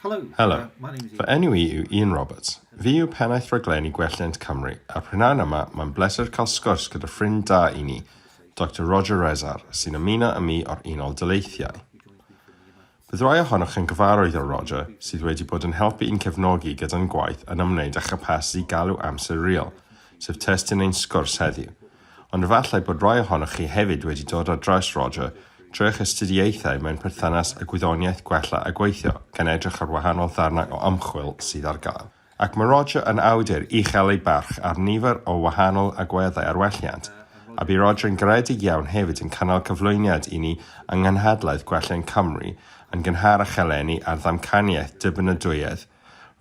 Helo. Helo. Fy enw i yw Ian Roberts. Fi yw pennaeth rhaglenni Gwelliant Cymru, a prynawn yma mae'n bleser cael sgwrs gyda ffrind da i ni, Doctor Roger Rezar, sy'n ymuno â mi o'r Unol Daleithiau. Bydd rhai ohonoch yn gyfarwydd o Roger, sydd wedi bod yn helpu i'n cefnogi gyda'n gwaith yn ymwneud â chapasiti galw amser real, sef testun ein sgwrs heddiw. Ond efallai bod rhai ohonoch chi hefyd wedi dod ar draws Roger trwy eich astudiaethau mewn perthynas â gwyddoniaeth gwella a gweithio, gan edrych ar wahanol ddarnau o ymchwil sydd ar gael. Ac mae Roger yn awdur uchel ei barch ar nifer o wahanol agweddau ar welliant, a bu Roger yn garedig iawn hefyd yn cynnal cyflwyniad i ni yng Nghynhadledd Gwelliant Cymru yn gynharach eleni ar ddamcaniaeth dibynadwyedd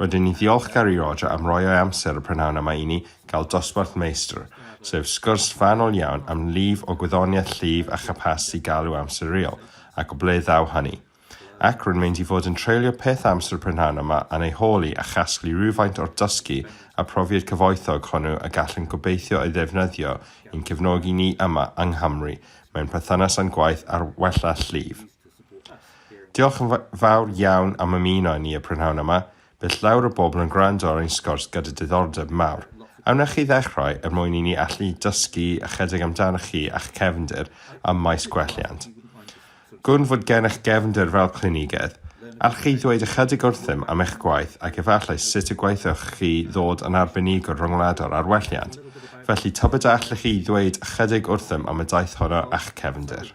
Rydyn ni'n ddiolchgar i Roger am roi o'i amser y prynhawn yma i ni gael dosbarth Meistr, sef sgwrs fanwl iawn am lif o gwyddoniaeth llif a chapasiti galw amser real, ac o ble ddaw hynny. Ac rwy'n mynd i fod yn treulio peth amser y prynhawn yma yn ei holi a chasglu rhywfaint o'r dysgu a profiad cyfoethog hwnnw y gallwn gobeithio ei ddefnyddio i'n cefnogi ni yma yng Nghymru mewn perthynas â'n gwaith ar wella llif. Diolch yn fawr iawn am ymuno â ni y prynhawn yma. Bydd llawer o bobl yn gwrando ar ein sgwrs gyda diddordeb mawr. A wna chi ddechrau er mwyn i ni allu dysgu ychydig amdanoch chi a'ch cefndir ym maes gwelliant? Gwn fod gennych gefndir fel clinigedd. Allwch chi ddweud ychydig wrthym am eich gwaith ac efallai sut y gweithioch chi ddod yn arbenigwr rhyngwladol ar welliant? Felly, tybed a allwch chi ddweud ychydig wrthym am y daith honno a'ch cefndir?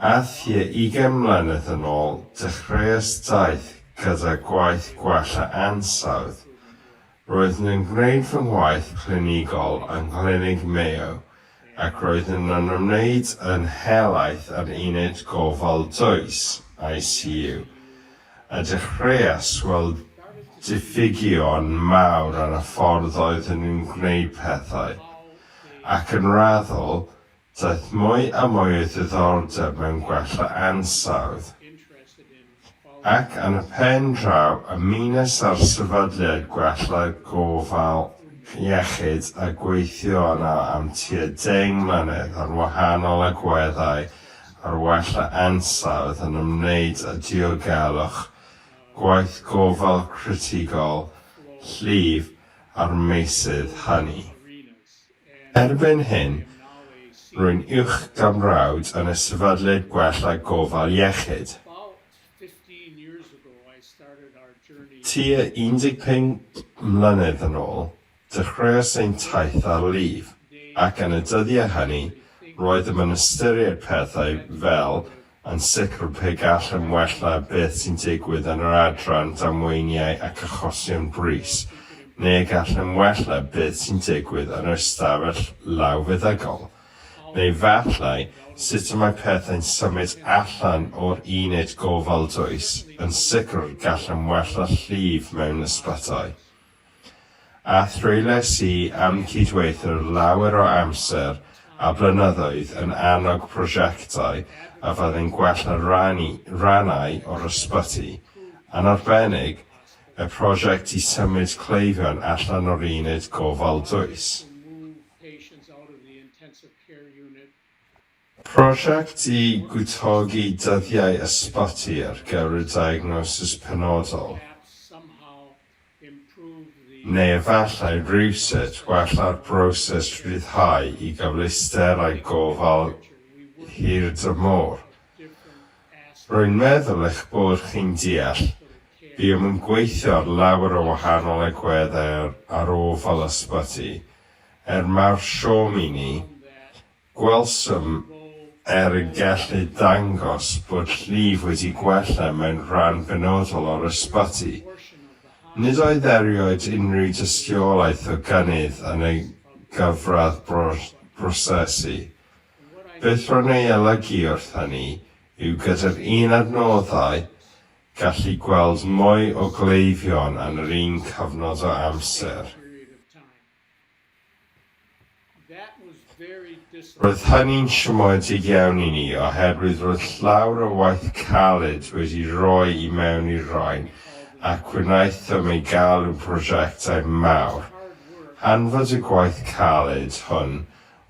A thua ugain mlynedd yn ôl, dechreuais daith gyda gwaith gwella ansawdd. Roeddwn yn gwneud fy ngwaith clinigol yng Nghlinig Mayo ac roeddwn yn ymwneud yn helaeth â'r Uned Gofal Dwys, ICU, a dechreuais weld diffygion mawr yn y ffordd oeddwn yn gwneud pethau, ac yn raddol, Daeth mwy a mwy o ddiddordeb mewn gwella ansawdd, ac yn y pen draw ymunes â'r sefydliad gwella gofal iechyd a gweithio yno am tua deng mlynedd ar wahanol agweddau ar wella ansawdd yn ymwneud â diogelwch, gwaith gofal critigol, llif a'r meysydd hynny. Erbyn hyn, rwy'n uwch gamrawd yn y Sefydliad Gwella Gofal Iechyd. Tua 15 mlynedd yn ôl, dechreuais ein taith ar lif, ac yn y dyddiau hynny, roeddem yn ystyried pethau fel Yn sicr, pe gallem wella beth sy'n digwydd yn yr adran damweiniau ac achosion brys, neu gallem wella beth sy'n digwydd yn yr ystafell lawfeddygol, neu falle sut y mae pethau'n symud allan o'r uned gofal dwys, yn sicr gallem wella llif mewn ysbytai. a threuliais i am cydweithio lawer o amser a blynyddoedd yn annog prosiectau a fyddai'n gwella rhannu rhannau o'r ysbyty, yn arbennig y prosiect i symud cleifion allan o'r uned gofal dwys. Prosiect i gwtogi dyddiau ysbyty ar gyfer y diagnosis penodol, neu efallai rywsut wella'r broses rhyddhau i gyfleusterau gofal hirdymor. Rwy'n meddwl eich bod chi'n deall, buom yn gweithio ar lawer o wahanol agweddau ar ofal ysbyty, er mawr siom i ni, Gwelsom er y gellid dangos bod llif wedi gwella mewn rhan benodol o'r ysbyty. Nid oedd erioed unrhyw dystiolaeth o gynnydd yn y gyfradd brosesu. Beth ro'n ei olygu wrth hynny yw gyda'r un adnoddau, gallu gweld mwy o gleifion yn yr un cyfnod o amser. Roedd hynny'n siomedig iawn i ni oherwydd roedd llawer o waith caled wedi rhoi i mewn i'r rain ac wnaethom ei galw'n prosiectau mawr. Hanfod y gwaith caled hwn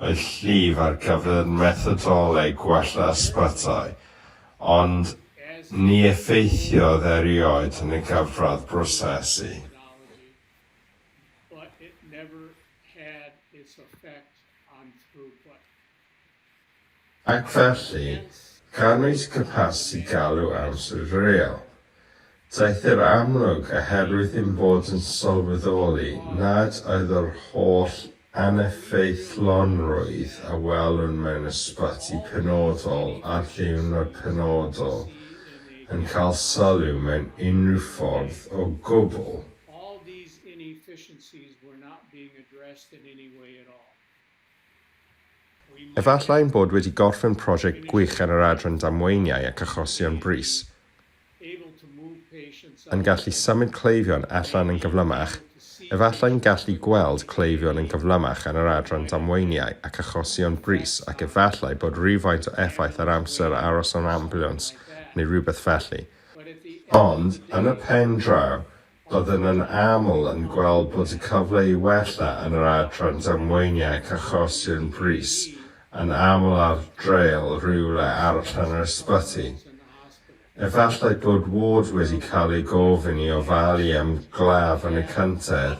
oedd llif ar gyfer methodoleg gwella ysbytai, ond ni effeithiodd erioed yn y cyfradd brosesu. but it never had its effect on throughput. Ac felly, canwyd capasiti galw amser real. Daeth i'r amlwg, oherwydd ein bod yn sylweddoli nad oedd yr holl Aneffeithlonrwydd a welwn mewn ysbyty penodol ar ddiwrnod penodol yn cael sylw mewn unrhyw ffordd o gwbl. All these inefficiencies were not being addressed in any way at all. We might. Efallai ein bod wedi gorffen prosiect gwych ar yr adran damweiniau ac achosion brys, yn gallu symud cleifion allan yn gyflymach, efallai'n gallu gweld cleifion yn gyflymach yn yr adran damweiniau ac achosion brys ac efallai bod rhywfaint o effaith ar amser aros mewn ambiwlans neu rhywbeth felly, ond yn y pen draw Byddwn yn aml yn gweld bod y cyfle i wella yn yr adran damweiniau ac achosion brys yn aml ar draul rywle arall yn yr ysbyty. Efallai bod ward wedi cael ei gofyn i ofalu am glaf yn y cyntedd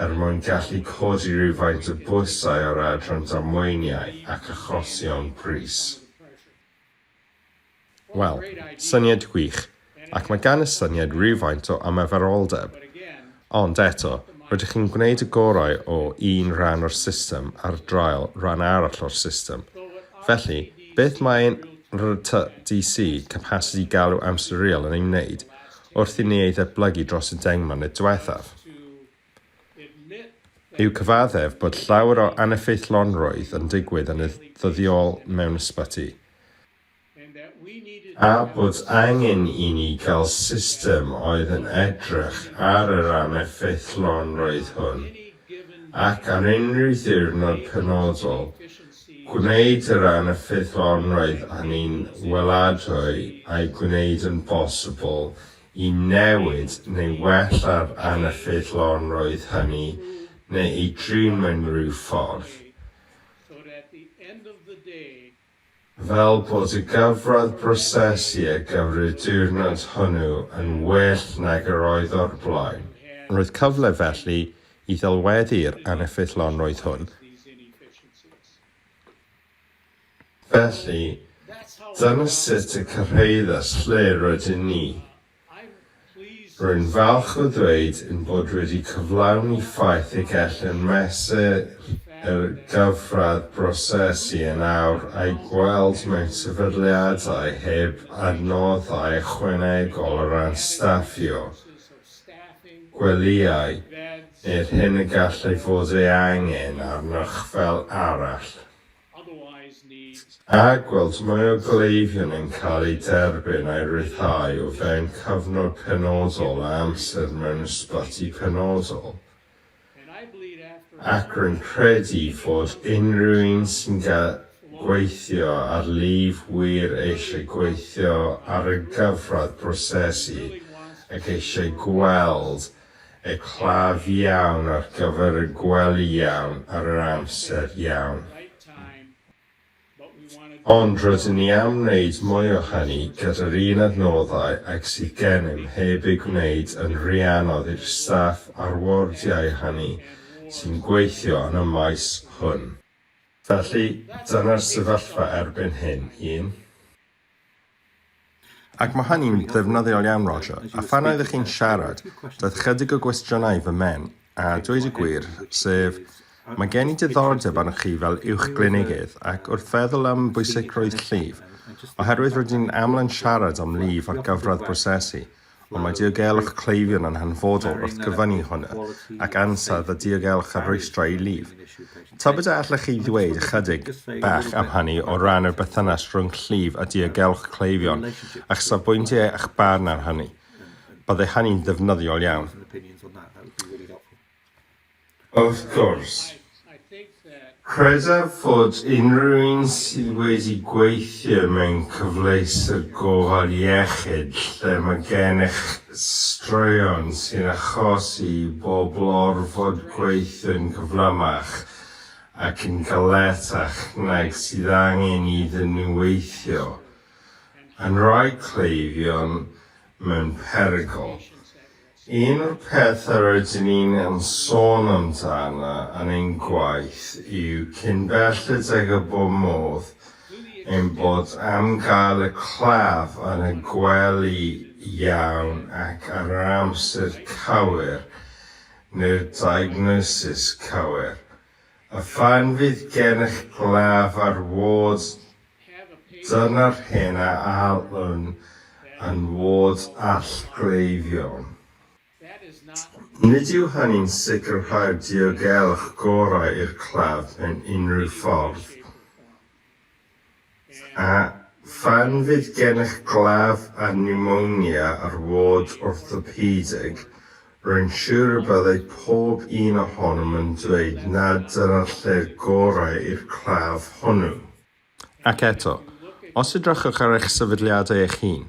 er mwyn gallu codi rhywfaint y bwysau o'r adran damweiniau ac achosion brys. Wel, syniad gwych, ac mae gan y syniad rywfaint o ymarferoldeb. Ond, eto, rydych chi'n gwneud y gorau o un rhan o'r system ar draul rhan arall o'r system. Felly, beth mae ein RTDC, Capacity Galw Amsteriol, yn ei wneud, wrth i ni ei ddatblygu dros y deng mlynedd diwethaf? yw cyfaddef bod llawer o aneffeithlonrwydd yn digwydd yn ddyddiol mewn ysbyty, a bod angen i ni gael system oedd yn edrych ar yr aneffeithlonrwydd hwn, ac ar unrhyw ddiwrnod penodol, gwneud yr aneffeithlonrwydd a ni'n weladwy a'i gwneud yn bosibl i newid neu wellaf aneffeithlonrwydd hynny neu ei drin mewn rhyw ffordd, fel bod y gyfradd brosesu ar gyfer y diwrnod hwnnw yn well nag yr oedd o'r blaen. Roedd cyfle felly i ddelweddu'r aneffeithlonrwydd hwn. Felly, dyna sut y cyrhaeddes lle rydyn ni. Rwy'n falch o ddweud ein bod wedi cyflawni ffaith y gellem mesur y gyfradd brosesu yn awr a'i gweld mewn sefydliadau heb adnoddau ychwanegol o ran staffio. gwelyau i'r hyn y gallai fod ei angen arnoch fel arall, a gweld mwy o gleifion yn cael eu derbyn a'u rhyddhau o fewn cyfnod penodol a amser mewn ysbyty penodol. Ac rwy'n credu fod unrhyw un sy'n gweithio ar lif wir eisiau gweithio ar y gyfradd brosesu ac eisiau gweld y claf iawn ar gyfer y gwely iawn ar yr amser iawn. Ond rydyn ni am wneud mwy o hynny gyda'r un adnoddau ag sydd gennym heb ei gwneud yn rhy anodd i'r staff a'r wardiau hynny sy'n gweithio yn y maes hwn. Felly, dyna'r sefyllfa erbyn hyn, un. Ac mae hynny'n ddefnyddiol iawn, Roger. A phan oeddech chi'n siarad, daeth chydig o gwestiynau i fy mhen, a dweud y gwir, sef, mae gen i diddordeb arnoch chi fel uwchglinigydd, ac wrth feddwl am bwysigrwydd llif, oherwydd rydyn ni'n aml yn siarad am lif ar gyfradd brosesu, ond mae diogelwch cleifion yn hanfodol wrth gyfyngu hwnna, ac ansawdd a diogelwch ar rwystrau i lif. Tybed a allech chi ddweud ychydig bach am hynny o ran yr berthynas rhwng llif a diogelwch cleifion, a'ch safbwyntiau a'ch barn ar hynny? Bydde hynny'n ddefnyddiol iawn. Wrth gwrs, credaf fod unrhyw un sydd wedi gweithio mewn cyfleuster gofal iechyd lle mae gennych straeon sy'n achosi i bobl orfod gweithio'n gyflymach ac yn galetach nag sydd angen iddyn nhw weithio, yn rhoi cleifion mewn perygl. Un o'r pethau rydyn ni'n yn sôn amdano yn ein gwaith yw cyn belled ag y bo modd ein bod am gael y claf yn y gwely iawn ac ar yr amser cywir neu'r diagnosis cywir a phan fydd gennych glaf ar ward Dyna'r hyn a allwn yn fod allgleifiol. Nid yw hynny'n sicrhau'r diogelwch gorau i'r claf mewn unrhyw ffordd. A phan fydd gennych glaf â niwmonia ar ward orthopedig, Rwy'n siŵr y byddai pob un ohonom yn dweud nad dyna'r lle'r gorau i'r claf hwnnw. Ac eto, os edrychwch ar eich sefydliadau eich hun,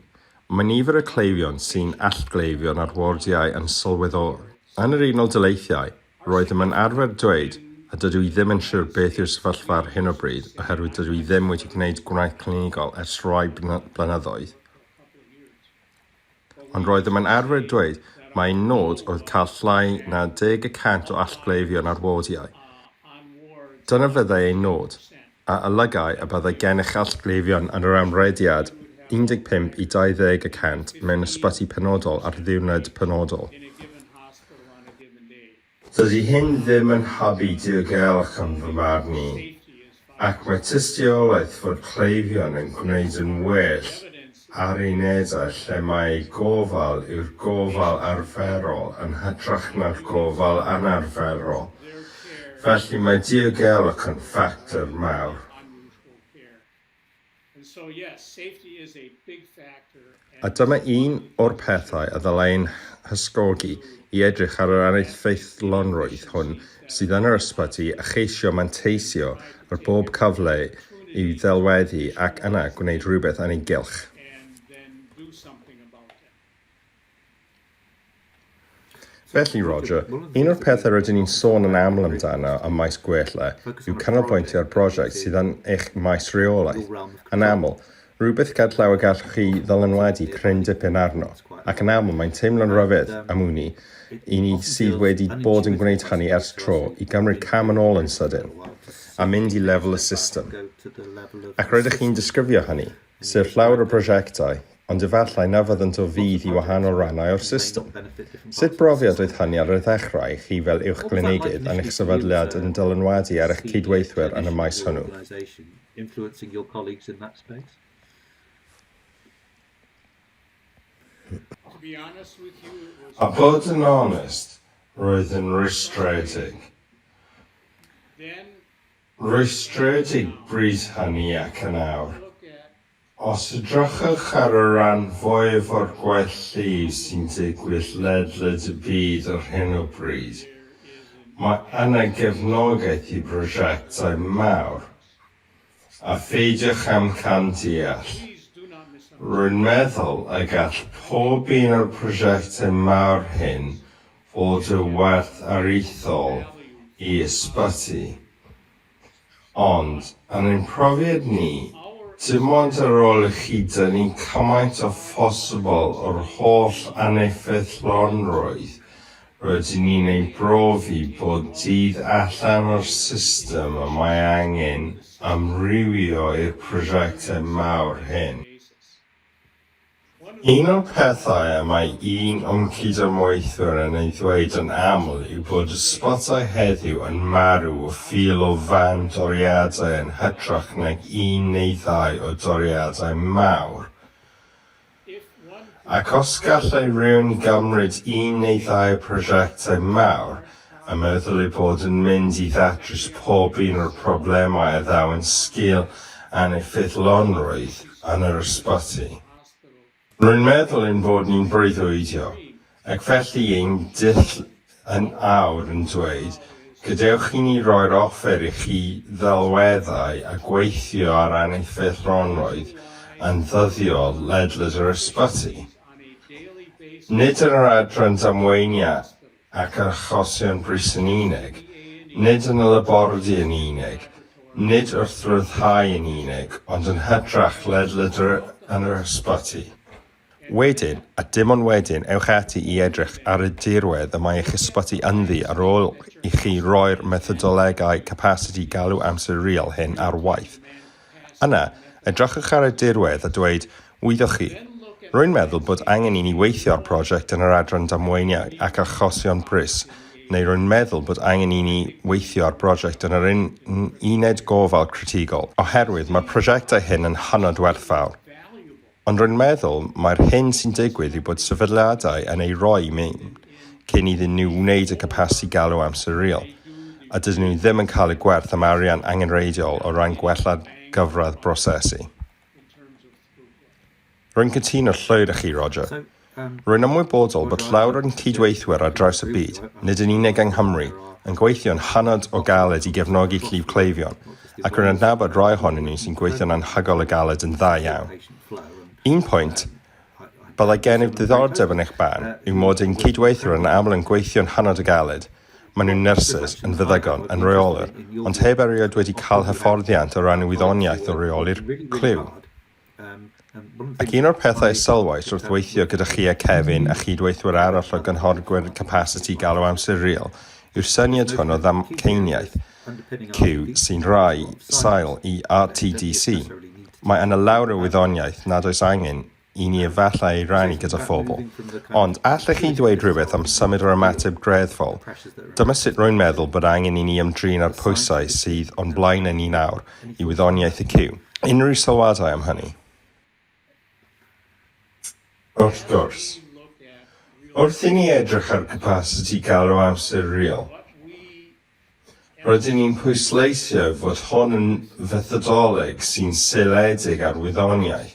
mae nifer y cleifion sy'n allgleifion ar wardiau yn sylweddol. Yn yr Unol Daleithiau, roeddem yn arfer dweud, a dydw i ddim yn siŵr beth yw'r sefyllfa ar hyn o bryd oherwydd dydw i ddim wedi gwneud gwaith clinigol ers rhai blynyddoedd, Ond roeddem yn arfer dweud mai nod oedd cael llai na deg y cant o allgleifion ar wardiau. Dyna fyddai ein nod, a olygai y byddai gennych allgleifion yn yr amrediad 15 i 20 y cant mewn ysbyty penodol ar ddiwrnod penodol. Dydy hyn ddim yn hybu diogelwch yn fy marn i, ac mae tystiolaeth fod cleifion yn gwneud yn well ar unedau lle mae eu gofal yw'r gofal arferol yn hytrach na'r gofal anarferol, felly mae diogelwch yn ffactor mawr. A dyma un o'r pethau y ddylai ein hysgogi i edrych ar yr aneffeithlonrwydd hwn sydd yn yr ysbyty a cheisio manteisio ar bob cyfle i'w ddelweddu ac yna gwneud rhywbeth yn ei gylch. Felly, Roger, un o'r pethau rydyn ni'n sôn yn aml amdano ym maes gwella yw canolbwyntio ar brosiect sydd yn eich maes rheolaeth, yn aml, rhywbeth ger llaw y gallwch chi ddylanwadu cryn dipyn arno, ac yn aml mae'n teimlo'n ryfedd, am wn i, i ni sydd wedi bod yn gwneud hynny ers tro, i gymryd cam yn ôl yn sydyn a mynd i lefel y system. Ac rydych chi'n disgrifio hynny. Sir llawer o brosiectau, ond efallai na fyddant o fudd i wahanol rannau o'r system. Sut brofiad oedd hynny ar y ddechrau i chi fel uwchglynigydd yn eich sefydliad yn dylanwadu ar eich cydweithwyr yn y maes hwnnw? A bod yn onest, roedd yn rwystredig. rwystredig brys hynny ac yn awr. Os edrychwch ar y rhan fwyaf o'r gwaith llif sy'n digwydd ledled y byd ar hyn o bryd, mae yna gefnogaeth i brosiectau mawr. A pheidiwch amcan deall, rwy'n meddwl y gall pob un o'r prosiectau mawr hyn fod y werth aruthrol i ysbyty. Ond, yn ein profiad ni, dim ond ar ôl i chi dynnu cymaint â phosibl o'r holl aneffeithlonrwydd rydyn ni'n ei brofi bob dydd allan o'r system y mae angen amrywio i'r prosiectau mawr hyn. Un o'r pethau y mae un o'n cyd-ymweithwyr yn ei ddweud yn aml yw bod y sbotiau heddiw yn marw o fil o fân doriadau yn hytrach nag un neu ddau o doriadau mawr, ac os gallai rywun gymryd un neu ddau o prosiectau mawr a meddwl ei bod yn mynd i ddatrys pob un o'r problemau a ddaw'n sgil aneffeithlonrwydd yn yr ysbyty. Rwy'n meddwl ein bod ni'n breuddwydio, ac felly ein dull yn awr yn dweud, 'Gadewch i ni roi'r offer i chi ddelweddau a gweithio ar aneffeithlonrwydd yn ddyddiol ledled yr ysbyty. Nid yn yr adran damweiniau ac yr achosion brys yn unig, nid yn y labordy yn unig, nid wrth ryddhau yn unig, ond yn hytrach ledled yn yr ysbyty. Wedyn, a dim ond wedyn, ewch ati i edrych ar y dirwedd y mae eich ysbyty ynddi ar ôl i chi roi'r methodolegau capasiti galw amser real hyn ar waith. Yna, edrychwch ar y dirwedd a dweud, Wyddoch chi, rwy'n meddwl bod angen i ni weithio ar brosiect yn yr Adran Damweiniau ac Achosion Brys, neu rwy'n meddwl bod angen i ni weithio ar brosiect yn yr Uned Gofal Critigol, oherwydd mae'r prosiectau hyn yn hynod werthfawr. Ond rwy'n meddwl mai'r hyn sy'n digwydd yw bod sefydliadau yn ei roi mewn cyn iddyn nhw wneud y capasiti galw amser real, a dydyn nhw ddim yn cael y gwerth am arian angenrheidiol o ran gwella'r gyfradd brosesu. Rwy'n cytuno llwyr â chi, Roger. Rwy'n ymwybodol bod llawer o'n cydweithwyr ar draws y byd, nid yn unig yng Nghymru, yn gweithio'n hynod o galed i gefnogi llif cleifion, ac rwy'n adnabod rai ohonyn nhw sy'n gweithio'n anhygoel o galed yn dda iawn. Un pwynt, byddai gennyf ddiddordeb yn eich barn, yw mod ein cydweithwyr yn aml yn gweithio'n hynod o galed, maen nhw'n nyrsys, yn feddygon, yn reolwyr, ond heb erioed wedi cael hyfforddiant o ran y wyddoniaeth o reoli'r cliw. Ac un o'r pethau a sylwais wrth weithio gyda chi a Kevin a chyd-weithwyr arall o gynhorgwyr capasiti galw amser real yw'r syniad hwn o ddamcaniaeth Q sy'n rhai sail i RTDC. Mae yna lawr o wyddoniaeth nad oes angen i ni efallai ei rannu gyda phobl. Ond allech chi ddweud rhywbeth am symud yr ymateb greddfol? Dyma sut rwy'n meddwl bod angen i ni ymdrin â'r pwysau sydd o'n blaenau ni nawr, i wyddoniaeth y Cyw. Unrhyw sylwadau am hynny? Wrth gwrs. Wrth i ni edrych ar capasiti galw amser real, rydyn ni'n pwysleisio fod hon yn fethodoleg sy'n seiliedig ar wyddoniaeth.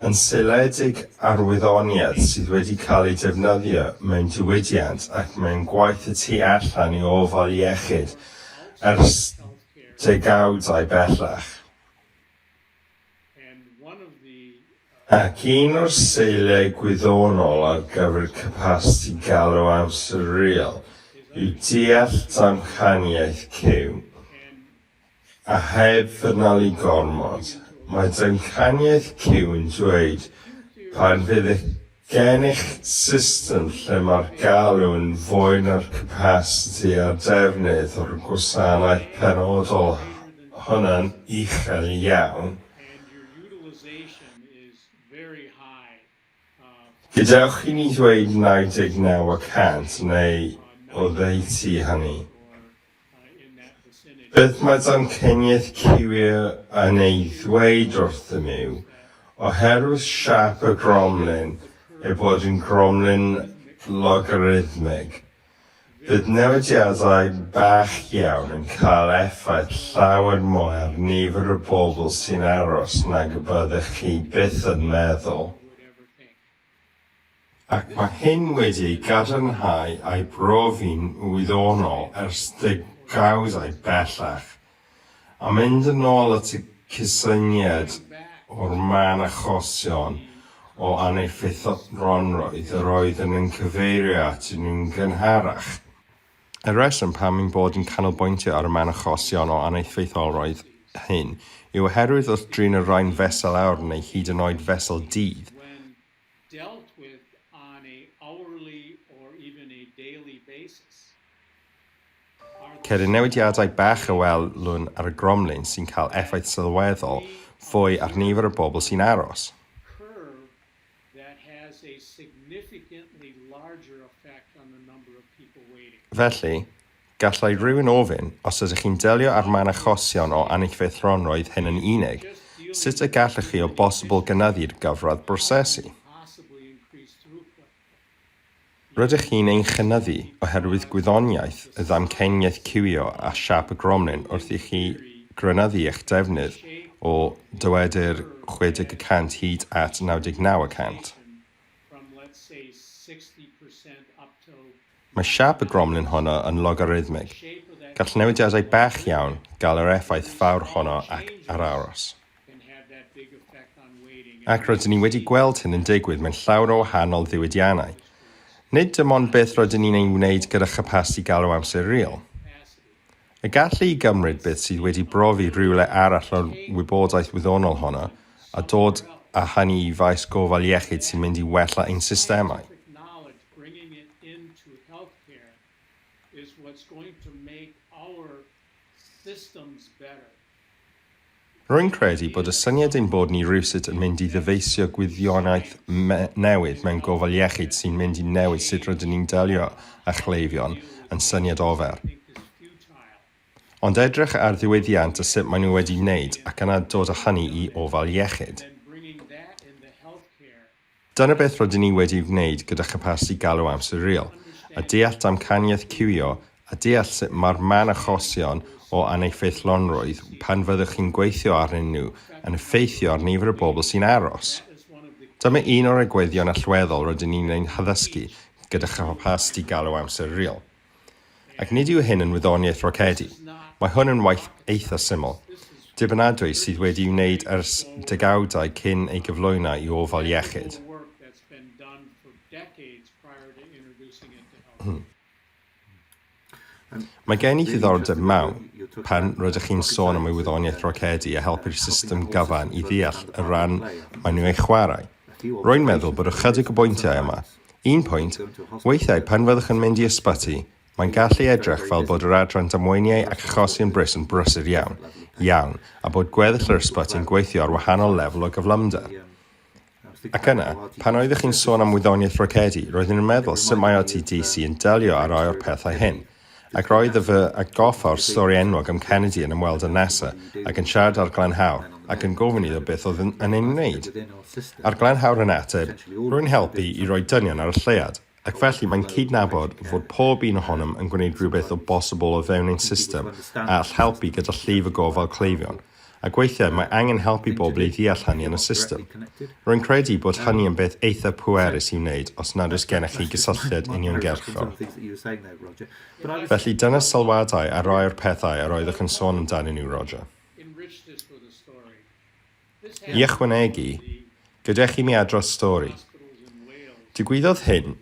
yn seiliedig ar wyddoniaeth sydd wedi cael ei defnyddio mewn diwydiant ac mewn gwaith y tu allan i ofal iechyd ers degawdau bellach, ac un o'r seiliau gwyddonol ar gyfer capasiti galw amserol yw deall damcaniaeth cyw. A heb ddyrnalu gormod, mae damcaniaeth Cyw'n dweud pan fydd gennych system lle mae'r galw yn fwy na'r capasiti a'r defnydd o'r gwasanaeth penodol hwnna'n uchel iawn, Gadewch i mi ddweud 99 y cant neu oddeutu hynny. Beth mae damcaniaeth Cywier yn ei ddweud wrthym yw, oherwydd siâp y gromlin, ei bod yn gromlin logarithmig, Bydd newidiadau bach iawn yn cael effaith llawer mwy ar nifer y bobl sy'n aros nag y byddech chi byth yn meddwl, ac mae hyn wedi ei gadarnhau a'i brofi'n wyddonol ers degawdau bellach. A mynd yn ôl at y cysyniad o'r mân achosion o aneffeithlonrwydd yr oeddwn yn cyfeirio atyn nhw'n gynharach, y rheswm pam ein bod yn canolbwyntio ar y mân achosion o aneffeithlonrwydd hyn yw oherwydd wrth drin y rhain fesul awr neu hyd yn oed fesul dydd, dealt with on a hourly or even a daily basis are the Ceir newidiadau bach a welwn ar y gromlin sy'n cael effaith sylweddol fwy ar nifer y bobl sy'n aros. curve that has a significantly larger effect on the number of people waiting. Felly, Gallai rhywun ofyn, os ydych chi'n delio â'r man achosion o annichfeithronroedd hyn yn unig, sut y gallwch chi o bosibl gynyddu'r gyfradd brosesu? Rydych chi'n ei chynyddu oherwydd gwyddoniaeth y ddamcaniaeth ciwio a siâp y gromlin wrth i chi grynyddu eich defnydd o, dywedir, 60 y cant hyd at 99 y cant. Mae siâp y gromlin honno yn logarithmig. Gall newidiadau bach iawn gael yr effaith fawr honno ac ar aros. Ac rydyn ni wedi gweld hyn yn digwydd mewn llawer o wahanol ddiwydiannau. Nid dim ond beth rydyn ni'n ei wneud gyda chapasiti galw amser real. Y gallu i gymryd beth sydd wedi brofi rhywle arall o'r wybodaeth wyddonol honno a dod â hynny i faes gofal iechyd sy'n mynd i wella ein systemau. bringing it into healthcare is what's going to make our systems better. Rwy'n credu bod y syniad ein bod ni rywsut yn mynd i ddyfeisio gwyddionaeth newydd mewn gofal iechyd sy'n mynd i newid sut rydyn ni'n delio â chleifion yn syniad ofer. Ond edrych ar ddiwydiant a sut maen nhw wedi wneud ac yna dod â hynny i ofal iechyd. Dyna beth rydyn ni wedi'i wneud gyda chapasiti galw amser real, a deall damcaniaeth ciwio a deall sut mae'r man achosion o aneffeithlonrwydd pan fyddwch chi'n gweithio arnyn nhw yn effeithio ar nifer y bobl sy'n aros. Dyma un o'r egwyddorion allweddol rydyn ni'n eu haddysgu gyda chapasiti galw amser real. Ac nid yw hyn yn wyddoniaeth rocedi, mae hwn yn waith eitha syml, dibynadwy sydd wedi'i wneud ers degawdau cyn ei gyflwyno i ofal iechyd. Mae gen i ddiddordeb mawr pan rydych chi'n sôn am ei wyddoniaeth rocedi a helpu'r system gyfan i ddeall y rhan maen nhw ei chwarae. Rwy'n meddwl bod ychydig o bwyntiau yma, Un pwynt, weithiau pan fyddwch yn mynd i ysbyty, mae'n gallu edrych fel bod yr adran damweiniau ac achosion brys yn brysur iawn, iawn, a bod gweddill yr ysbyty'n gweithio ar wahanol lefel o gyflymder. Ac yna, pan oeddech chi'n sôn am wyddoniaeth rocedi, roeddwn i'n meddwl, sut mae OTDC yn delio â rhai o'r pethau hyn? Ac roedd y fy a goffa'r stori enwog am Kennedy yn ymweld â NASA ac yn siarad â'r Glanhawr ac yn gofyn iddo beth oedd yn, yn ei wneud. A'r Glanhawr yn ateb, rwy'n helpu i roi dynion ar y lleuad, ac felly mae'n cydnabod fod pob un ohonom yn gwneud rhywbeth o bosibl o fewn ein system a all helpu gyda llif y gofal cleifion. ac weithiau mae angen help i bobl i ddeall hynny yn y system. Rwy'n credu bod hynny yn beth eithaf pwerus i'w wneud os nad oes gennych chi gysylltiad uniongyrchol. Felly, dyna sylwadau ar rai o'r pethau yr oeddech yn sôn amdanyn nhw, Roger. I ychwanegu, Gadewch i mi adrodd stori. Digwyddodd hyn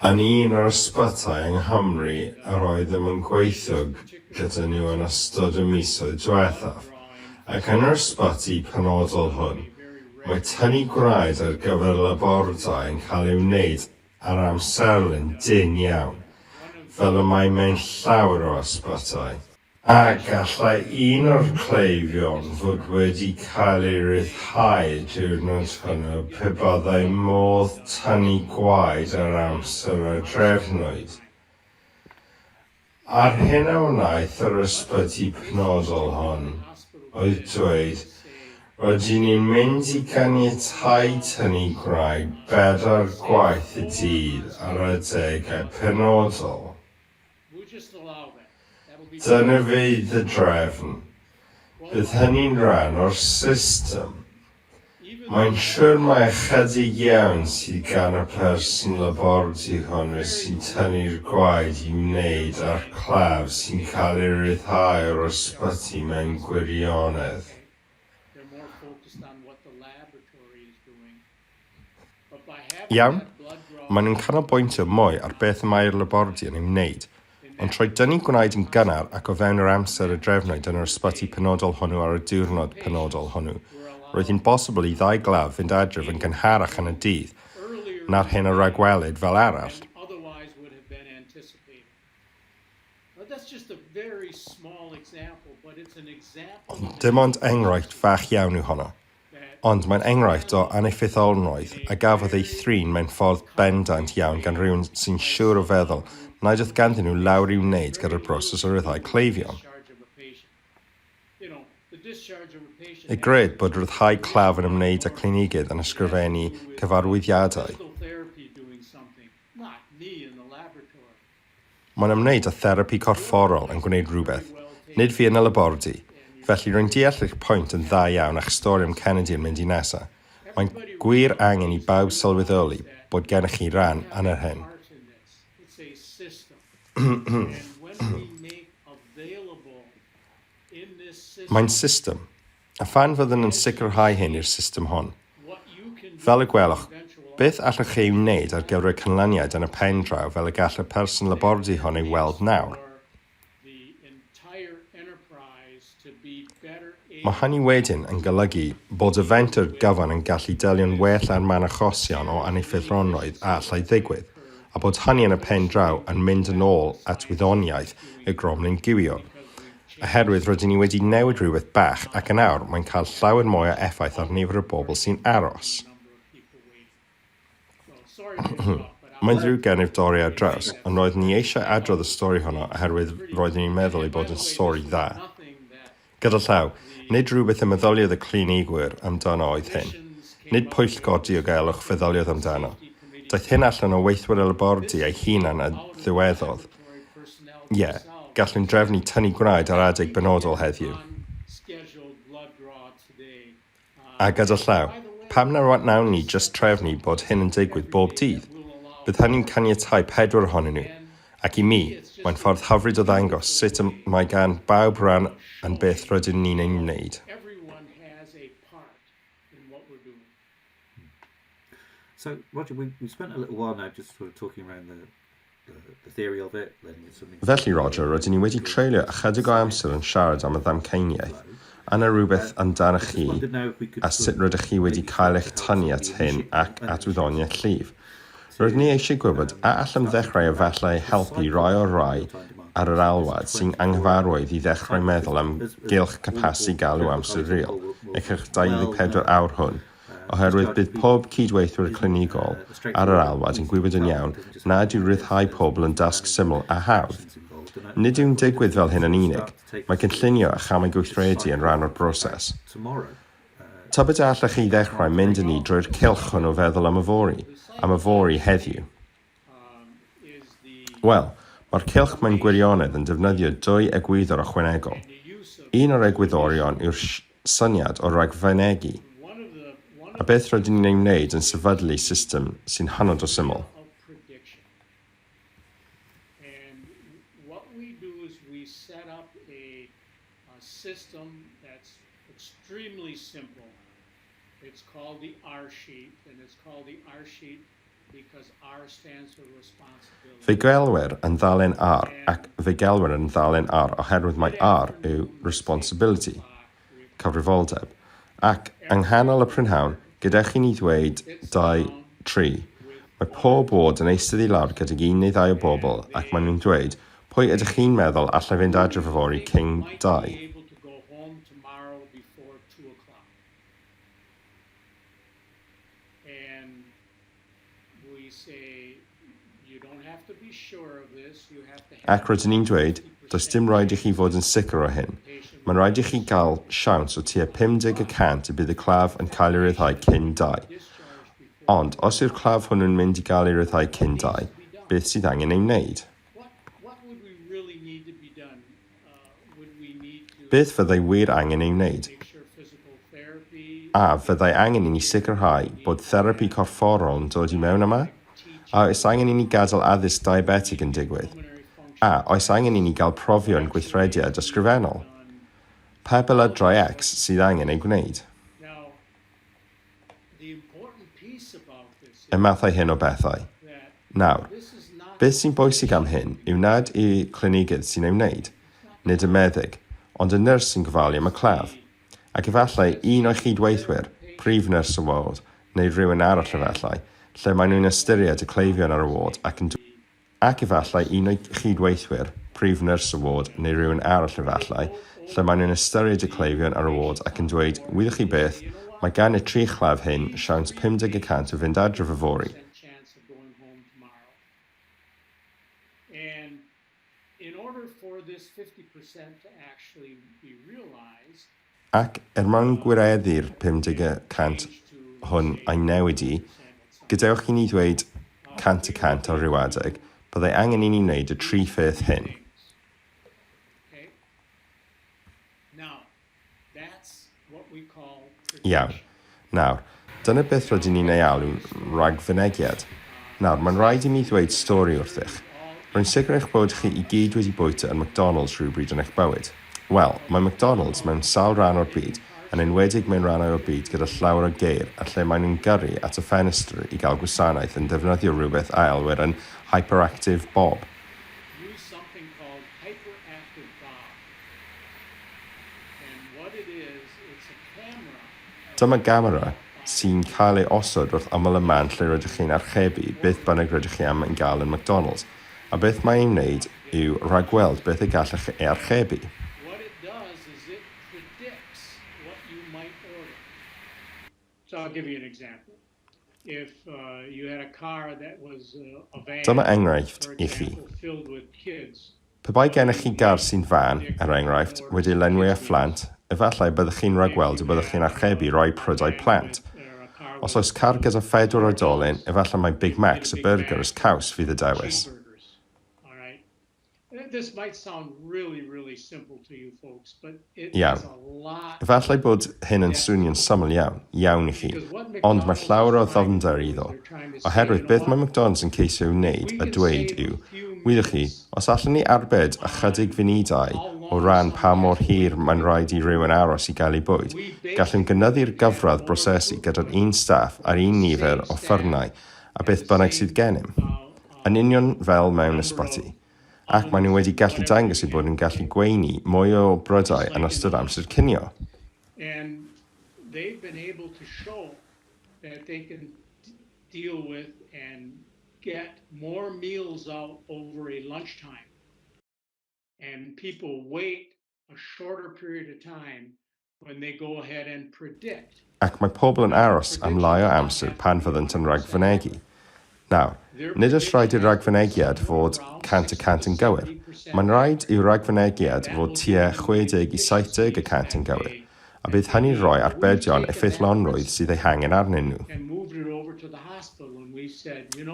yn un o'r ysbytai yng Nghymru yr oeddem yn gweithio gyda nhw yn ystod y misoedd diwethaf, ac yn yr ysbyty penodol hwn, mae tynnu gwraid ar gyfer labordai yn cael ei wneud ar amserlen dynn iawn, fel y mae mewn llawer o ysbytai. A gallai un o'r cleifion fod wedi cael ei ryddhau y diwrnod hwnnw pe byddai modd tynnu gwaed ar amser a drefnwyd? A'r hyn a wnaeth yr ysbyty penodol hon oedd dweud, 'Rydyn ni'n mynd i ganiatáu tynnu gwraig bedair gwaith y dydd ar adegau penodol. Dyna fydd y drefn. Bydd hynny'n rhan o'r system. Mae'n siwr mai ychydig iawn sydd gan y person labordy hwnnw sy'n tynnu'r gwaed i wneud â'r claf sy'n cael ei ryddhau o'r ysbyty mewn gwirionedd. Iawn, maen nhw'n canolbwyntio mwy ar beth y mae'r labordy yn ei wneud, ond trwy dynnu gwnaed yn gynnar ac o fewn yr amser y drefnwyd yn yr ysbyty penodol hwnnw ar y diwrnod penodol hwnnw, roedd hi'n bosibl i ddau glaf fynd adref yn gynharach yn y dydd na'r hyn a ragwelid fel arall. Ond dim ond enghraifft fach iawn yw honno. Ond mae'n enghraifft o aneffeithlonrwydd a gafodd ei thrin mewn ffordd bendant iawn gan rywun sy'n siwr o feddwl nad oedd ganddyn nhw lawr i'w wneud gyda'r broses o ryddhau cleifion. Y gred bod rhyddhau claf yn ymwneud â clinigydd yn ysgrifennu cyfarwyddiadau. Mae'n ymwneud â therapi corfforol yn gwneud rhywbeth, nid fi yn y labordy, felly rwy'n deall eich pwynt yn dda iawn a'ch stori am Kennedy yn mynd i Nasa. Mae'n gwir angen i bawb sylweddoli bod gennych chi ran yn yr hyn. Mae'n system. A phan fyddwn yn sicrhau hyn i'r system hon? Fel y gwelwch, beth allwch chi ei wneud ar gyfer y canlyniad yn y pen draw fel y gall y person labordy hon ei weld nawr? Mae hynny wedyn yn golygu bod y fenter gyfan yn gallu delio'n well â'r man achosion o aneffeithlonrwydd a allai ddigwydd, a bod hynny yn y pen draw yn mynd yn ôl at wyddoniaeth y gromlin gywiog. oherwydd rydyn ni wedi newid rhywbeth bach ac yn awr mae'n cael llawer mwy o effaith ar nifer y bobl sy'n aros. Mae'n ddrwg gennyf dorri ar draws, ond roeddwn ni eisiau adrodd y stori honno oherwydd roeddwn i'n meddwl ei bod yn stori dda. Gyda llaw, nid rhywbeth y meddyliodd y clinigwyr amdano oedd hyn. Nid pwyllgor diogelwch feddyliodd amdano. Daeth hyn allan o weithwyr y labordy ei hunan a ddywedodd, Ie, gallwn drefnu tynnu gwraig ar adeg benodol heddiw. A gyda llaw, pam na wnawn ni jyst trefnu bod hyn yn digwydd bob dydd? Bydd hynny'n caniatáu pedwar ohonyn nhw, ac i mi, mae'n ffordd hyfryd o ddangos sut y mae gan bawb ran yn beth rydyn ni'n ei wneud. So, Roger, we, we spent a little while now just sort of talking around the Felly, Roger, rydyn ni wedi treulio ychydig o amser yn siarad am y ddamcaeniaeth. Anna rhywbeth amdanoch chi a sut rydych chi wedi cael eich tynnu at hyn ac at wyddoniaeth llif. Roeddwn ni eisiau gwybod a allem ddechrau efallai helpu rhai o'r rhai ar yr alwad sy'n anghyfarwydd i ddechrau meddwl am gylch capasu galw amser real y cylch 24 awr hwn, oherwydd bydd pob cyd-weithwyr clinigol ar yr alwad yn gwybod yn iawn nad yw rhyddhau pobl yn dasg syml a hawdd. Nid yw'n digwydd fel hyn yn unig, mae cynllunio a chamau gweithredu yn rhan o'r broses. Tybed a allech chi ddechrau mynd â ni drwy'r cylch hwn o feddwl am yfory, am yfory heddiw? Wel, mae'r cylch mewn gwirionedd yn defnyddio dwy egwyddor ychwanegol. Un o'r egwyddorion yw'r syniad o ragfynegi, a beth rydyn ni'n ei wneud yn sefydlu system sy'n hynod o syml. a system that's extremely simple, it's called the R-sheet and it's called the R-sheet because R stands for responsibility. Fe gelwir yn ddalen R ac fe gelwir yn ddalen R oherwydd mae R yw responsibility, cyfrifoldeb, ac yng nghanol y prynhawn, gyda chi ni ddweud dau, tri, mae pob ward yn eistedd i lawr gydag un neu ddau o bobl ac maen nhw'n dweud, Pwy ydych chi'n meddwl allai fynd adref yfory cyn dau? Ac rydyn ni'n dweud, does dim rhaid i chi fod yn sicr o hyn. Mae'n rhaid i chi gael siawns o tua 50 y cant y bydd y claf yn cael ei ryddhau cyn dau. Ond, os yw'r claf hwnnw'n mynd i gael ei ryddhau cyn dau, beth sydd angen ei wneud? Beth fyddai wir angen ei wneud? A fyddai angen i ni sicrhau bod therapi corfforol yn dod i mewn yma? A oes angen i ni gadael addysg diabetig yn digwydd? A oes angen i ni gael profion gweithrediad ysgrifennol? Pa beladrau X sydd angen eu gwneud? y mathau hyn o bethau. Nawr, beth sy'n bwysig am hyn yw nad y clinigydd sy'n ei wneud, nid y meddyg, ond y nyrs sy'n gofalu am y claf, ac efallai un o'i chyd-weithwyr, prif nyrs y ward, neu rywun arall efallai, lle maen nhw'n ystyried y cleifion ar y ward ac yn Ac efallai un o'i chyd-weithwyr, prif nyrs y ward, neu rywun arall efallai, lle maen nhw'n ystyried y cleifion ar y ward ac yn dweud, wyddoch chi beth, mae gan y tri chlef hyn siawns 50 y cant o fynd adref yfory! Ac er mwyn gwireddu'r 50 y cant hwn a'i newid i, gadewch i ni ddweud, 100 y cant ar ryw adeg, byddai angen i ni wneud y tri pheth hyn. Iawn. Nawr, dyna beth rydyn ni'n ei alw'n ragfynegiad. Nawr, mae'n rhaid i mi ddweud stori wrthych. Rwy'n sicr eich bod chi i gyd wedi bwyta yn McDonalds rhywbryd yn eich bywyd. Wel, mae McDonalds mewn sawl rhan o'r byd, yn enwedig mewn rhannau o'r byd gyda llawr o geir a lle maen nhw'n gyrru at y ffenestr i gael gwasanaeth yn defnyddio rhywbeth a elwir yn 'Hyperactive Bob'. Dyma gamera sy'n cael ei osod wrth ymyl y man lle rydych chi'n archebu beth bynnag rydych chi am yn gael yn McDonalds, a beth mae ei wneud yw rhagweld beth y gallech chi ei archebu. Dyma enghraifft i chi. Pe bai gennych chi gar sy'n fân, er enghraifft, wedi'i lenwi â phlant, efallai y byddwch chi'n rhagweld y byddwch chi'n archebu rhai prydau plant. Os oes car gyda phedwar oedolyn, efallai mai Big Macs a byrgyrs caws fydd y dewis. Iawn. Efallai bod hyn yn swnio'n syml iawn, iawn i chi, ond mae llawer o ddyfnder iddo, oherwydd beth mae McDonalds yn ceisio ei wneud a dweud yw, wyddoch chi, os allwn ni arbed ychydig funudau o ran pa mor hir mae'n rhaid i rywun aros i gael eu bwyd, gallwn gynyddu'r gyfradd brosesu gyda'r un staff a'r un nifer o offerynnau a beth bynnag sydd gennym. yn union fel mewn ysbyty, ac maen nhw wedi gallu dangos eu bod yn gallu gweini mwy o brydau yn ystod amser cinio. a shorter period of time when they go ahead and predict ac mae pobl yn aros am lai o amser pan fyddant yn ragfynegi. Nawr, nid oes rhaid i'r ragfynegiad fod 100 y cant yn gywir. Mae'n rhaid i'w ragfynegiad fod tua 60 i 70 y cant yn gywir, a bydd hynny'n rhoi arbedion effeithlonrwydd sydd eu hangen arnyn nhw.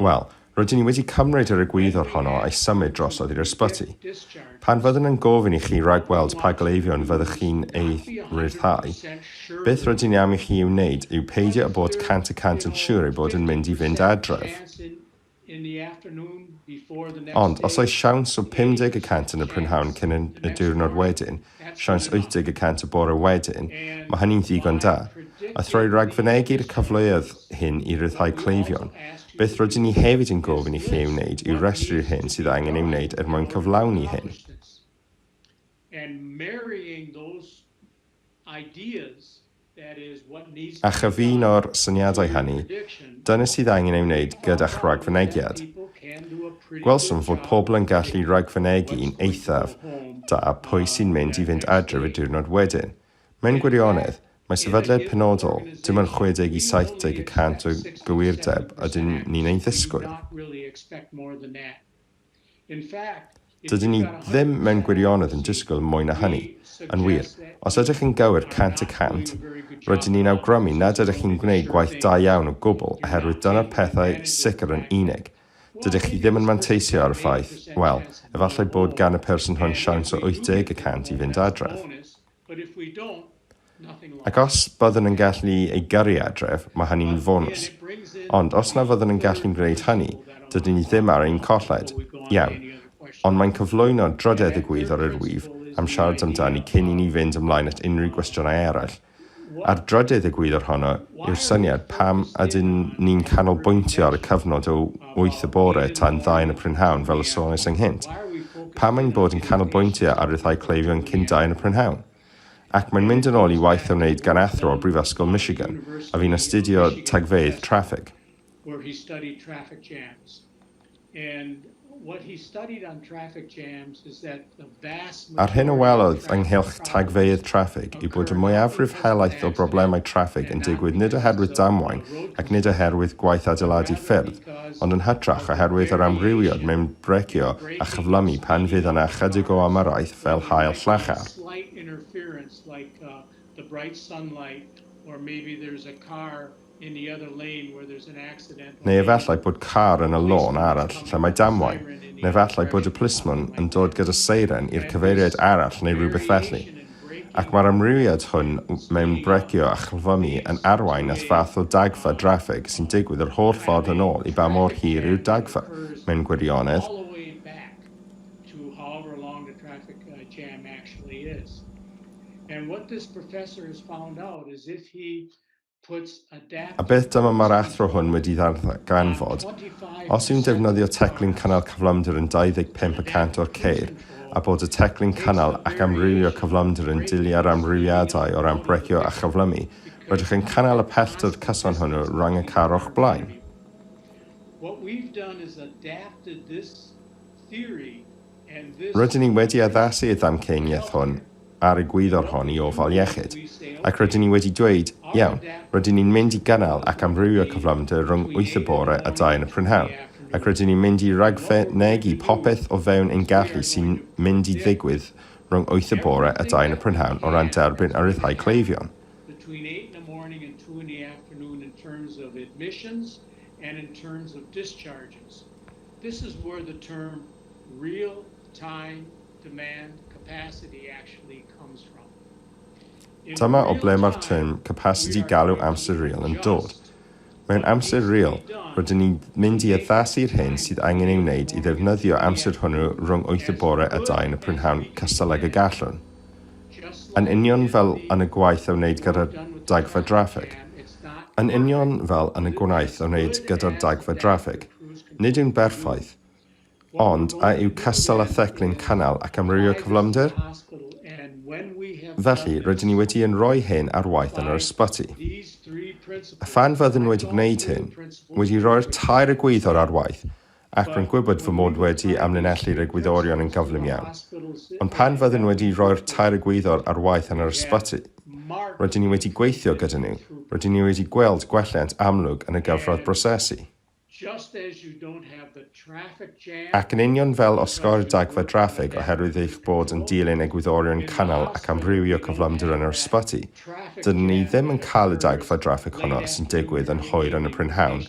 Wel, Rydyn ni wedi cymryd yr egwyddor honno a'i symud drosodd i'r ysbyty. Pan fyddwn yn gofyn i chi ragweld pa gleifion fyddwch chi'n eu rhyddhau, beth rydyn ni am i chi ei wneud yw peidio â bod cant y cant yn siŵr eu bod yn mynd i fynd adref. Ond, os oes siawns o 50 y cant yn y prynhawn cyn y diwrnod wedyn, siawns 80 y cant y bore wedyn, mae hynny'n ddigon da. A throi ragfynegi'r cyfleoedd hyn i ryddhau cleifion, beth rydyn ni hefyd yn gofyn i chi ei wneud yw rhestru'r hyn sydd angen ei wneud er mwyn cyflawni hyn. A chyfuno'r syniadau hynny, dyna sydd angen ei wneud gyda'ch rhagfynegiad. Gwelsom fod pobl yn gallu rhagfynegu'n eithaf da pwy sy'n mynd i fynd adref y diwrnod wedyn. Mewn gwirionedd, mae sefydliad penodol, dim ond 60 i 70 y cant o gywirdeb ydyn ni'n ei ddisgwyl. Dydyn ni ddim mewn gwirionedd yn disgwyl mwy na hynny. Yn wir, os ydych chi'n gywir cant y cant, rydyn ni'n awgrymu nad ydych chi'n gwneud gwaith da iawn o gwbl oherwydd dyna'r pethau sicr yn unig. Dydych chi ddim yn manteisio ar y ffaith, wel, efallai bod gan y person hwn siawns o 80 y cant i fynd adref. Ac os byddwn yn gallu ei gyrru adref, mae hynny'n fonws. Ond os na fyddwn yn gallu'n gwneud hynny, dydyn ni ddim ar ein colled. Iawn. Ond mae'n cyflwyno drydedd y Gwyddor i'r wyf am siarad amdani cyn i ni fynd ymlaen at unrhyw gwestiynau eraill. Ar drydydd y Gwyddor honno yw'r syniad pam ydyn ni'n canolbwyntio ar y cyfnod o wyth y bore tan ddau yn y prynhawn fel y sônais ynghynt. Pam ein bod yn canolbwyntio ar ryddhau cleifion cyn dau yn y prynhawn? Ac mae'n mynd yn ôl i waith a wneud gan athro o Brifysgol Michigan, a fu'n astudio tagfeydd traffig. where he studied traffic jams. And what he studied on traffic jams is that A'r hyn a welodd ynghylch tagfeydd traffig yw bod y mwyafrif helaeth o broblemau traffig yn digwydd nid oherwydd damwain ac nid oherwydd gwaith adeiladu ffyrdd, ond yn hytrach oherwydd yr amrywiad mewn brecio a chyflymu pan fydd yna ychydig o ymyrraeth fel haul llachar. Neu efallai bod car yn y lôn arall lle mae damwain, neu efallai bod y plismon yn dod gyda seiren i'r cyfeiriad arall neu rywbeth felly. Ac mae'r amrywiad hwn mewn breicio a chlwyfami yn arwain at fath o dagfa draffig sy'n digwydd yr holl ffordd yn ôl i ba mor hir yw'r dagfa, mewn gwirionedd. A beth dyma mae'r athro hwn wedi ddarganfod, os yw'n defnyddio teclyn cynnal cyflymder yn 25 y cant o'r ceir, a bod y teclyn cynnal ac amrywio cyflymder yn dilyn yr amrywiadau o ran brecio a chyflymu, rydych yn cynnal y pellter cyson hwnnw rhwng y car o'ch blaen. Rydyn ni wedi addasu y ddamcaniaeth hwn a'r egwyddor hon i ofal iechyd, ac rydyn ni wedi dweud, 'Iawn, rydyn ni'n mynd i gynnal ac amrywio cyflymder rhwng wyth y bore a dau yn y prynhawn, ac rydyn ni'n mynd i ragfynegi popeth o fewn ein gallu sy'n mynd i ddigwydd rhwng wyth y bore a dau yn y prynhawn o ran derbyn a rhyddhau cleifion. between eight in the morning and two in the afternoon in terms of admissions and in terms of discharges. This is where the term real time demand capacity actually comes from. Dyma o ble mae'r term capasiti galw amser real yn dod. Mewn amser real, rydyn ni'n mynd i addasu'r hyn sydd angen ei wneud i ddefnyddio amser hwnnw rhwng wyth y bore a dau yn y prynhawn cystal ag y gallwn. Yn union fel yn y gwaith a wneud gyda'r dagfa draffig. Yn union fel yn y gwaith a wneud gyda'r dagfa draffig. Nid yw'n berffaith. Ond, a yw cystal â theclyn cynnal ac amrywio cyflymder? Felly, rydyn ni wedi yn rhoi hyn ar waith yn yr ysbyty. A phan fyddwn wedi gwneud hyn, wedi rhoi'r tair egwyddor ar waith, ac rwy'n gwybod fy mod wedi amlinellu'r egwyddorion yn gyflym iawn. Ond pan fyddwn wedi rhoi'r tair egwyddor ar waith yn yr ysbyty, rydyn ni wedi gweithio gyda nhw, rydyn ni wedi gweld gwelliant amlwg yn y gyfradd brosesu. Ac yn union fel osgoi'r dagfa draffig oherwydd eich bod yn dilyn egwyddorion cynnal ac amrywio cyflymder yn yr ysbyty, Dydyn ni ddim yn cael y dagfa draffig honno sy'n digwydd yn hwyr yn y prynhawn,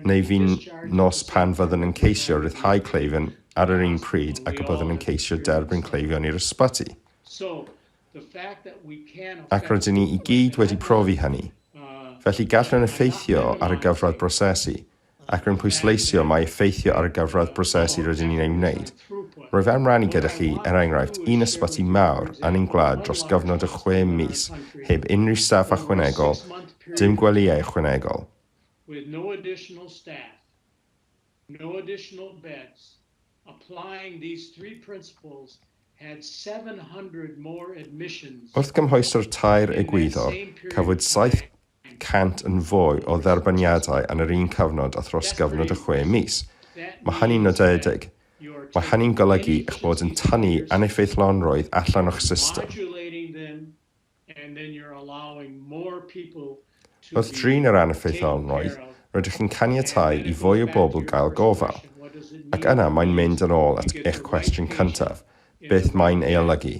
neu fin nos pan fyddwn yn ceisio rhyddhau cleifion ar yr un pryd ag y byddwn yn ceisio derbyn cleifion i'r ysbyty. Ac rydyn ni i gyd wedi profi hynny. Felly gallwn effeithio ar y gyfradd brosesu, ac rwy'n pwysleisio mai effeithio ar y gyfradd brosesu rydyn ni'n ei wneud. Rwyf am rannu gyda chi, er enghraifft, un ysbyty mawr yn ein gwlad dros gyfnod o chwe mis heb unrhyw staff ychwanegol, dim gwelyau ychwanegol. with no additional staff, no additional beds, applying these three principles had 700 more admissions Wrth gymhwyso'r tair egwyddor, cafwyd cant yn fwy o dderbyniadau yn yr un cyfnod a thros gyfnod o chwe mis. Mae hynny'n nodedig. Mae hynny'n golygu eich bod yn tynnu aneffeithlonrwydd allan o'ch system. Wrth drin yr aneffeithlonrwydd, rydych chi'n caniatáu i fwy o bobl gael gofal. Ac yna mae'n mynd yn ôl at eich cwestiwn cyntaf, Beth mae'n ei olygu?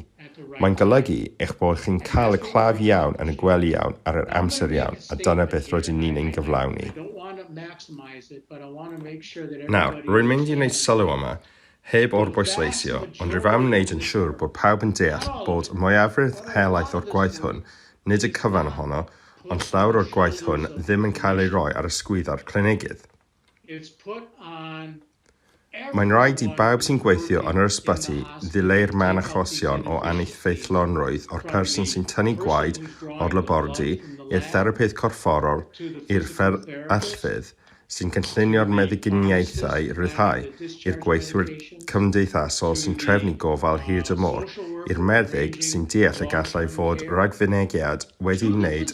Mae'n golygu eich bod chi'n cael y claf iawn yn y gwely iawn ar yr amser iawn, a dyna beth rydyn ni'n ein gyflawni. Nawr, rwy'n mynd i wneud sylw yma, heb orbwysleisio, ond rwyf am wneud yn siŵr bod pawb yn deall bod y mwyafrif helaeth o'r gwaith hwn, nid y cyfan ohono, ond llawer o'r gwaith hwn ddim yn cael ei roi ar ysgwyddau'r clinegydd. Mae'n rhaid i bawb sy'n gweithio yn yr ysbyty ddileu'r man achosion o aneffeithlonrwydd o'r person sy'n tynnu gwaed o'r labordy i'r therapydd corfforol i'r fferyllfydd sy'n cynllunio'r meddyginiaethau rhyddhau i'r gweithwyr cymdeithasol sy'n trefnu gofal hir dymor i'r meddyg sy'n deall y gallai fod rhagfynegiad wedi wneud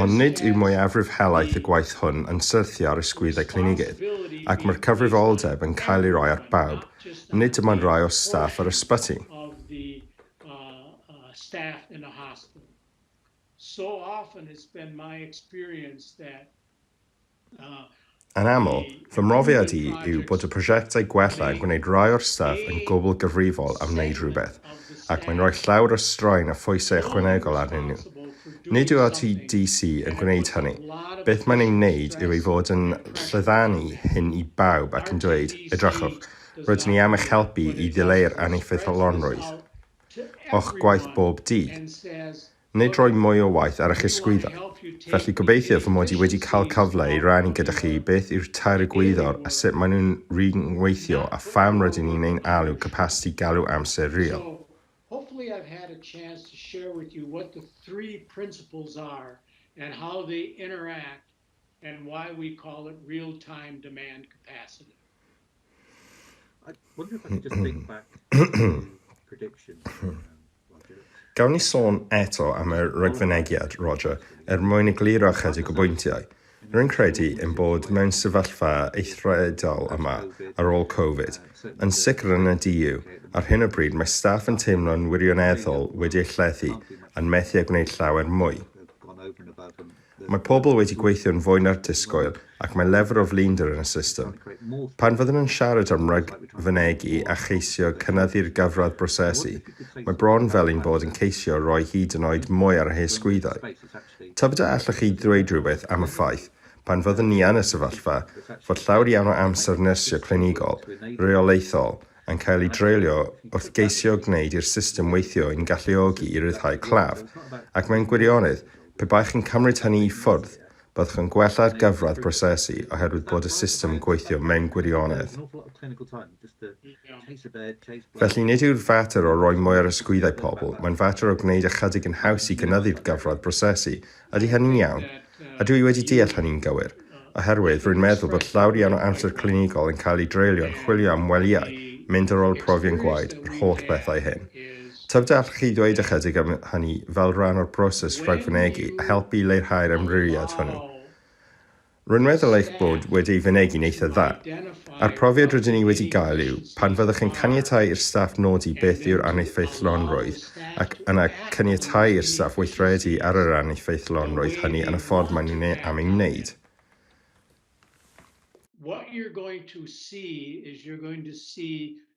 Ond nid yw mwyafrif helaeth y gwaith hwn yn syrthio ar ysgwyddau clinigydd, ac mae'r cyfrifoldeb yn cael ei roi ar bawb, nid dim ond rhai o staff yr ysbyty. Yn aml, fy mhrofiad i yw bod y prosiectau gwella yn gwneud rai o'r staff yn gwbl gyfrifol am wneud rhywbeth, ac mae'n rhoi llawer o straen a phwysau ychwanegol arnyn nhw. Nid yw RTDC yn gwneud hynny. Beth mae'n ei wneud yw ei fod yn lledaenu hyn i bawb ac yn dweud, 'Edrychwch, rydyn ni am eich helpu i ddileu'r aneffeithlonrwydd o'ch gwaith bob dydd. Nid rhoi mwy o waith ar eich ysgwyddau. Felly, gobeithio fy mod i wedi cael cyfle i rannu gyda chi beth yw tair egwyddor a sut maen nhw'n rhyngweithio a pham rydyn ni'n ein alw Capasiti Galw Amser Real. Hopefully I've had a chance to share with you what the three principles are and how they interact and why we call it real-time demand capacity. I wonder if I could just think back to prediction. Um, Gawn ni sôn eto am y rhagfynegiad, Roger, er mwyn egluro chydig o bwyntiau. Rwy'n credu yn bod mewn sefyllfa eithredol yma ar ôl Covid. Yn sicr yn y DU, ar hyn o bryd mae staff yn teimlo'n wirioneddol wedi ei llethu a'n methu â gwneud llawer mwy. Mae pobl wedi gweithio'n fwy na'r disgwyl ac mae lefr o flinder yn y system. Pan fyddwn yn siarad am ragfynegi a cheisio cynyddu'r gyfradd brosesu, mae bron fel ein bod yn ceisio rhoi hyd yn oed mwy ar y hen sgwyddau. Tybed a allwch chi ddweud rhywbeth am y ffaith, pan fyddwn ni yn y sefyllfa, fod llawer iawn o amser nyrsio clinigol, reolaethol, yn cael eu dreulio wrth geisio gwneud i'r system weithio i'n galluogi i ryddhau claf, ac mewn gwirionedd, pe baech chi'n cymryd hynny i ffwrdd, byddwch yn gwella'r gyfradd brosesu oherwydd bod y system yn gweithio mewn gwirionedd. Felly, nid yw'r fater o roi mwy ar ysgwyddau pobl, mae'n fater o gwneud ychydig yn haws i gynyddu'r gyfradd brosesu Ydy hynny'n iawn? A dw i wedi deall hynny'n gywir? Oherwydd, rwy'n meddwl bod llawer iawn o amser clinigol yn cael ei dreulio yn chwilio am welyau, mynd ar ôl profion gwaed, yr holl bethau hyn. Tybed allwch chi ddweud ychydig am hynny fel rhan o'r broses rhagfynegi a helpu i leihau'r ymryriad hwnnw? Rwy'n meddwl eich bod wedi ei fynegi'n eitha' dda. A'r profiad rydyn ni wedi gael yw, pan fyddwch yn caniatáu i'r staff nodi beth yw'r aneffeithlonrwydd ac yna caniatáu i'r staff weithredu ar yr aneffeithlonrwydd hynny yn y ffordd maen nhw'n ei am ei wneud,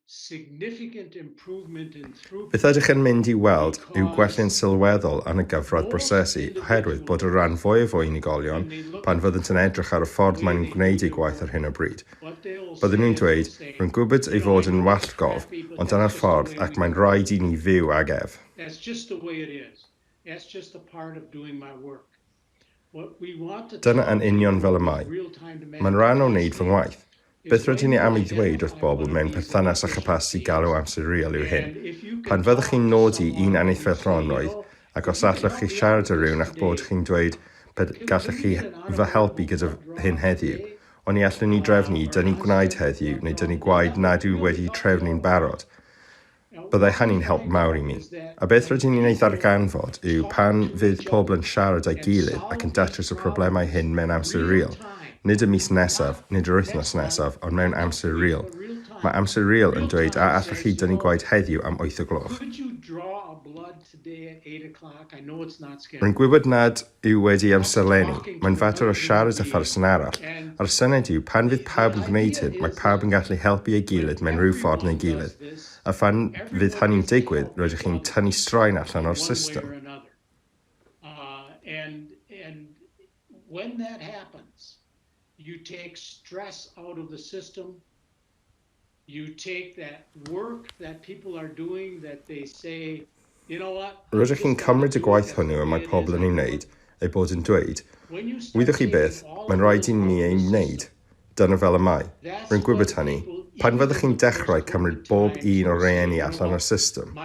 significant improvement in throughput. Beth ydych yn mynd i weld yw gwelliant sylweddol yn y gyfradd brosesu oherwydd bod y rhan fwyaf o unigolion, pan fyddant yn edrych ar y ffordd maen nhw'n gwneud eu gwaith ar hyn o bryd, bydden nhw'n dweud, 'Rwy'n gwybod ei fod yn wallgof, ond dyna'r ffordd ac mae'n rhaid i ni fyw ag ef. Dyna yn union fel y mae. Mae'n rhan o wneud fy ngwaith. Beth rydyn ni am ei ddweud wrth bobl mewn perthynas â chapasiti galw amser real yw hyn. Pan fyddwch chi'n nodi un enillfeilldronnroedd, ac os allwch chi siarad â rhywun a'ch bod chi'n dweud, pe gallech chi fy helpu gyda hyn heddiw, oni allwn ni drefnu i dynnu gwnaed heddiw neu dynnu gwaed nad yw wedi'u trefnu'n barod, Byddai hynny'n help mawr i mi. A beth rydyn ni'n ei ddarganfod yw pan fydd pobl yn siarad â'i gilydd ac yn datrys y problemau hyn mewn amser real, nid y mis nesaf, nid yr wythnos nesaf, ond mewn amser real. Mae amser real yn dweud a allwch chi dynnu gwaed heddiw am wyth o gloch? Mae'n gwybod nad yw wedi amserlennu, mae'n fater o siarad â pherson arall. A'r syniad yw, pan fydd pawb yn gwneud hyn, mae pawb yn gallu helpu ei gilydd mewn rhyw ffordd neu gilydd. A phan fydd hynny'n digwydd, rydych chi'n tynnu straen allan o'r system. you take that work that people are doing that they say, you know what, Rydych chi'n cymryd y gwaith hwnnw y mae pobl yn ei wneud, eu bod yn dweud, wyddoch chi beth, mae'n rhaid i ni ei wneud, dyna fel y mae, rwy'n gwybod hynny, pan fyddwch chi'n dechrau cymryd bob un o'r rheeni allan o'r system,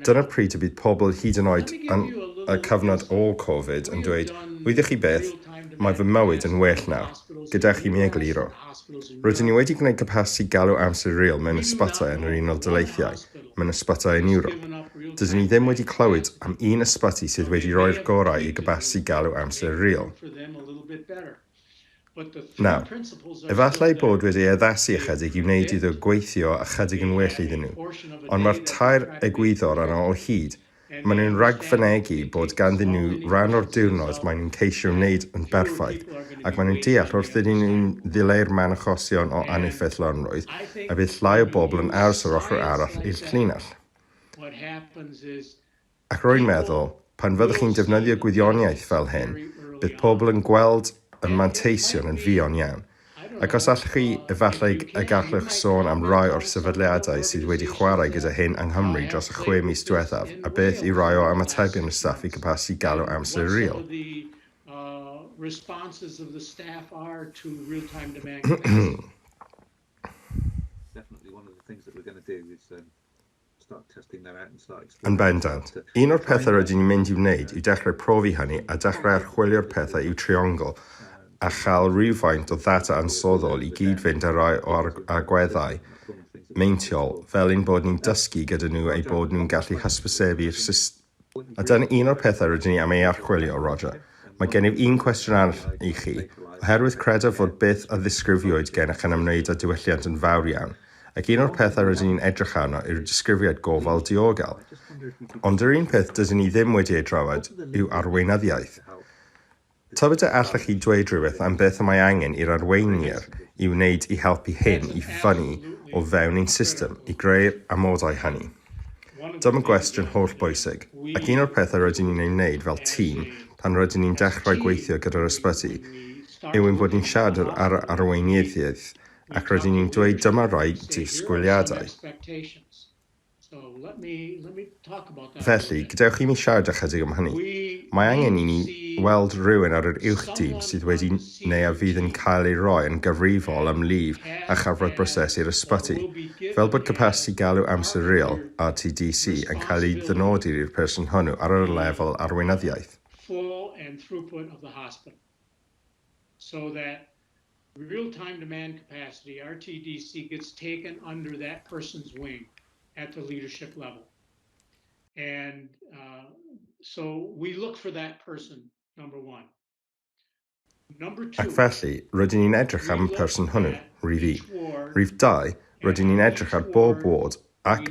dyna pryd y bydd pobl hyd yn oed yn y cyfnod ôl Covid yn dweud, wyddoch chi beth, mae fy mywyd yn well nawr, gyda chi mi egluro. Rydyn ni wedi gwneud capasiti galw amser real mewn ysbytai yn yr Unol Daleithiau, mewn ysbytai yn Ewrop. Dydyn ni ddim wedi clywed am un ysbyty sydd wedi rhoi'r gorau i gapasiti galw amser real. Nawr, efallai eu bod wedi ei addasu ychydig i wneud iddo gweithio ychydig yn well iddyn nhw, ond mae'r tair egwyddor yno o hyd, Maen nhw'n rhagfynegi bod ganddyn nhw ran o'r diwrnod maen nhw'n ceisio wneud yn berffaith, ac maen nhw'n deall wrth iddyn nhw ddileu'r man achosion o aneffeithlonrwydd y bydd llai o bobl yn aros yr ochr arall i'r llinell. Ac rwy'n meddwl, pan fyddwch chi'n defnyddio gwyddoniaeth fel hyn, bydd pobl yn gweld y manteision yn fuan iawn. Ac os allwch chi, efallai y gallwch sôn am rai o'r sefydliadau sydd wedi chwarae gyda hyn yng Nghymru dros y chwe mis diwethaf, a beth yw rai o ymatebion y staff i gapasiti galw amser real? Yn bendant. Un o'r pethau rydyn ni'n mynd i'w wneud yw dechrau profi hynny a dechrau archwilio'r pethau i'w triongl a chael rhywfaint o ddata ansoddol i gyd-fynd â rhai o'r agweddau meintiol fel ein bod ni'n dysgu gyda nhw eu bod nhw'n gallu hysbysebu'r system A dyna un o'r pethau rydyn ni am ei archwilio, Roger. Mae gennyf un cwestiwn arall i chi, oherwydd credaf fod beth a ddisgrifiwyd gennych yn ymwneud â diwylliant yn fawr iawn, ac un o'r pethau rydyn ni'n edrych arno yw'r disgrifiad gofal diogel. Ond yr un peth dydyn ni ddim wedi ei drafod yw arweinyddiaeth. Tybed a allech chi dweud rhywbeth am beth y mae angen i'r arweiniad ei wneud i helpu hyn i fyny o fewn ein system i greu'r amodau hynny? Dyma gwestiwn hollbwysig, ac un o'r pethau rydyn ni'n ei wneud fel tîm pan rydyn ni'n dechrau gweithio gyda'r ysbyty yw ein bod ni'n siarad â'r arweinyddiaeth ac rydyn ni'n dweud dyma rai disgwyliadau. Felly, gadewch i mi siarad â chydig am hynny. Mae angen i ni weld rhywun ar yr Uwch Dîm sydd wedi neu a fydd yn cael ei roi yn gyfrifol am lif a chafwraeth brosesu'r ysbyty, fel bod capasiti galw amser real, RTDC, yn cael ei ddynodi i'r person hwnnw ar yr lefel arweinyddiaeth. Real Time Demand Capacity, RTDC, gets taken under that person's wing at the leadership level. We look for that person, number one. Number two. Ac felly, rydyn ni'n edrych am y person hwnnw, rhif un. Rhif dau, rydyn ni'n edrych ar bob ward ac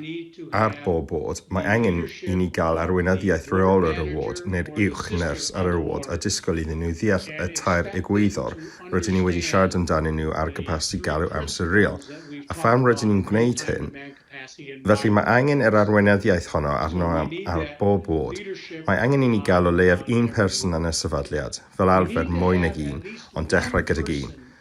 ar bob ward, mae angen i ni gael arweinyddiaeth Rheolwr y Ward neu'r Uwch Nyrs ar yr ward a disgwyl iddyn nhw ddeall y tair egwyddor rydyn ni wedi siarad amdanyn nhw ar gapasiti galw amser real a pham rydyn ni'n gwneud hyn. Felly, mae angen yr arweinyddiaeth honno arno am ar bob ward. Mae angen i ni gael o leiaf un person yn y sefydliad, fel arfer mwy nag un, ond dechrau gydag un.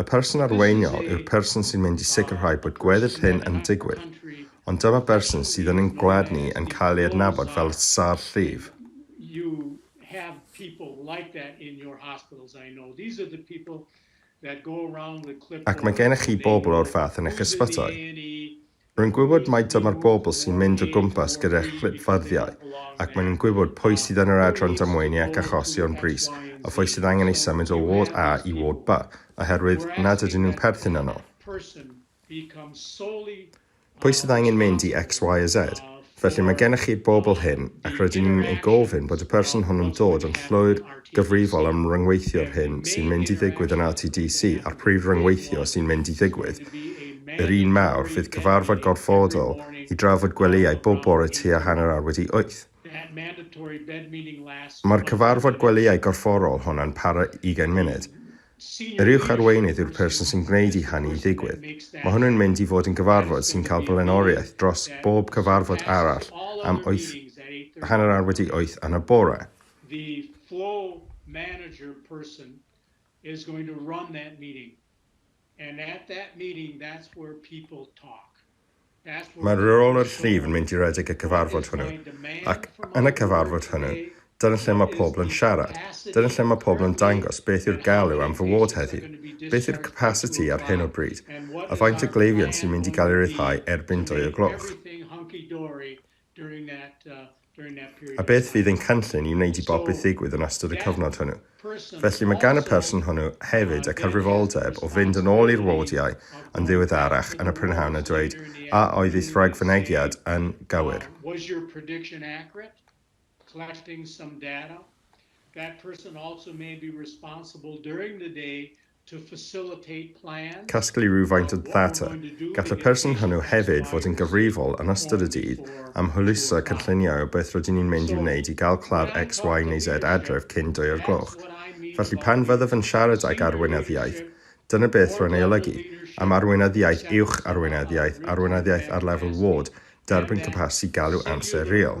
Y person arweiniol yw'r person sy'n mynd i sicrhau bod gweddill hyn yn digwydd, ond dyma berson sydd yn ein gwlad ni yn cael ei adnabod fel sâr llif. Ac mae gennych chi bobl o'r fath yn eich ysbytai. Rwy'n gwybod mai dyma'r bobl sy'n mynd o gwmpas gyda chlipfarddiau, ac maen nhw'n gwybod pwy sydd yn yr adran damweini ac achosion brys a phwy sydd angen eu symud o ward A i ward B oherwydd nad ydyn nhw'n perthyn yno, pwy sydd angen mynd i X, Y a Z. Felly, mae gennych chi'r bobl hyn, ac rydyn ni'n ei gofyn bod y person hwn yn dod yn llwyr gyfrifol am ryngweithio'r hyn sy'n mynd i ddigwydd yn RTDC, a'r prif ryngweithio sy'n mynd i ddigwydd, yr un Mawrth, fydd cyfarfod gorfodol i drafod gwelyau bob bore tua hanner awr wedi wyth. Mae'r cyfarfod gwelyau gorfforol hwn yn para ugain munud. Yr uwch arweinydd yw'r person sy'n gwneud i hynny ddigwydd. Mae hwnnw'n mynd i fod yn gyfarfod sy'n cael blaenoriaeth dros bob cyfarfod arall am wyth, hanner awr wedi wyth yn y bore. The flow manager person is going to run that meeting and at that meeting that's where people talk. Mae rôl yr llif yn mynd i redeg y cyfarfod hwnnw, ac yn y cyfarfod hwnnw, dyna lle mae pobl yn siarad, dyna lle mae pobl yn dangos beth yw'r galw am fy ward heddiw, beth yw'r capasiti ar hyn o bryd, a faint o gleifion sy'n mynd i gael ei ryddhau erbyn dwy o gloch. A beth fydd ein cynllun i wneud i bopeth ddigwydd yn ystod y cyfnod hwnnw? Felly, mae gan y person hwnnw hefyd y cyfrifoldeb o fynd yn ôl i'r wardiau yn ddiweddarach yn y prynhawn a dweud, A oedd eich rhagfynegiad yn gywir? Casglu rhywfaint o ddata. Gall y person hwnnw hefyd fod yn gyfrifol, yn ystod y dydd, am hwyluso cynlluniau o beth rydyn ni'n mynd i'w wneud i gael claf X, Y neu Z adref cyn dwy o'r gloch. Felly, pan fyddaf yn siarad ag Arweinydd Iaith, dyna beth rwy'n ei olygu, am Arweinydd Iaith Uwch, Arweinydd Iaith, Arweinydd Iaith ar lefel ward, derbyn capasiti galw amser real.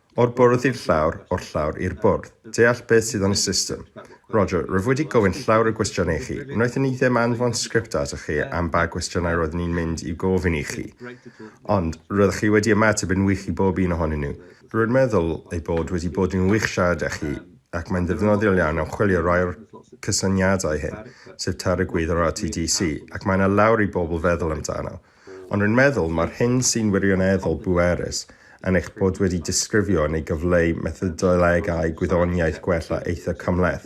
O'r bwrdd i'r llawr, o'r llawr i'r bwrdd. Deall beth sydd yn y system. Roger, rwyf wedi gofyn llawer o gwestiynau i chi. Wnaethon ni ddim anfon sgript atoch chi am ba gwestiynau roeddwn ni'n mynd i'w gofyn i chi. Ond, roeddech chi wedi ymateb yn wych i bob un ohonyn nhw. Rwy'n meddwl ei bod wedi bod yn wych siarad â chi, ac mae'n ddefnyddiol iawn am chwilio rai o'r cysyniadau hyn, sef Târ y Gwydd o'r RTDC, ac mae yna lawer i bobl feddwl amdano. Ond rwy'n meddwl, mae'r hyn sy'n wirioneddol bwerus yn eich bod wedi disgrifio neu gyfleu methodolegau gwyddoniaeth gwella eitha' cymhleth,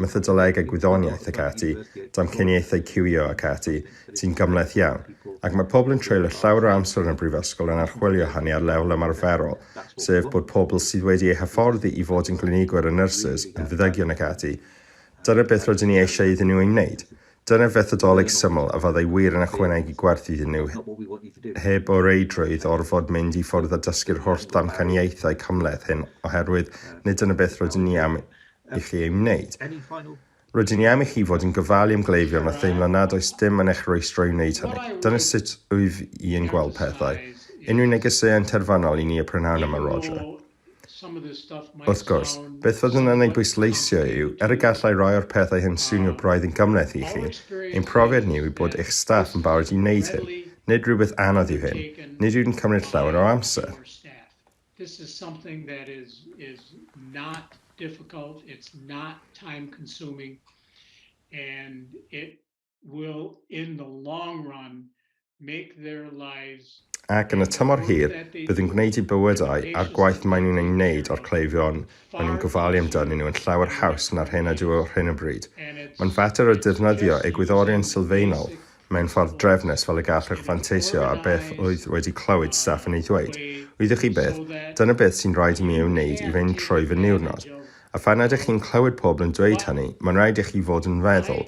methodolegau gwyddoniaeth ac ati, damcaniaethau ciwio ac ati, sy'n gymhleth iawn, ac mae pobl yn treulio llawer o amser yn y Brifysgol yn archwilio hynny ar lefel ymarferol, sef bod pobl sydd wedi eu hyfforddi i fod yn glinigwyr a nyrsys, yn feddygion ac ati, dyna beth rydyn ni eisiau iddyn nhw ei wneud. Dyna fethodoleg syml a fyddai wir yn ychwanegu gwerth iddyn nhw heb o reidrwydd orfod mynd i ffwrdd a dysgu'r holl ddamcaniaethau cymhleth hyn oherwydd nid dyna beth rydyn ni am i chi ei wneud. Rydyn ni am i chi fod yn gofalu am gleifion a theimlo nad oes dim yn eich rwystro i wneud hynny. Dyna sut wyf i yn gweld pethau. Unrhyw negeseuon terfynol i ni y prynhawn yma, Roger? Wrth gwrs, beth fyddwn yn ei bwysleisio yw, er y gallai rai o'r pethau hyn swnio braidd yn gymhleth i chi, ein profiad ni yw bod eich staff yn barod i wneud hyn. Nid rhywbeth anodd yw hyn. Nid yw'n cymryd llawer o amser. This is something that is is not difficult, it's not time consuming and it will in the long run make their lives Ac yn y tymor hir, bydd yn gwneud i bywydau a'r gwaith maen nhw'n ei wneud o'r cleifion maen nhw'n gofalu amdanyn nhw yn llawer haws na'r hyn ydyw ar hyn o bryd. Mae'n fater o defnyddio egwyddorion sylfaenol mewn ffordd drefnus fel y gallwch fanteisio ar beth oedd wedi clywed staff yn ei ddweud, wyddoch chi beth, dyna beth sy'n rhaid i mi ei wneud i fynd trwy fy niwrnod. A phan ydych chi'n clywed pobl yn dweud hynny, mae'n rhaid i chi fod yn feddwl,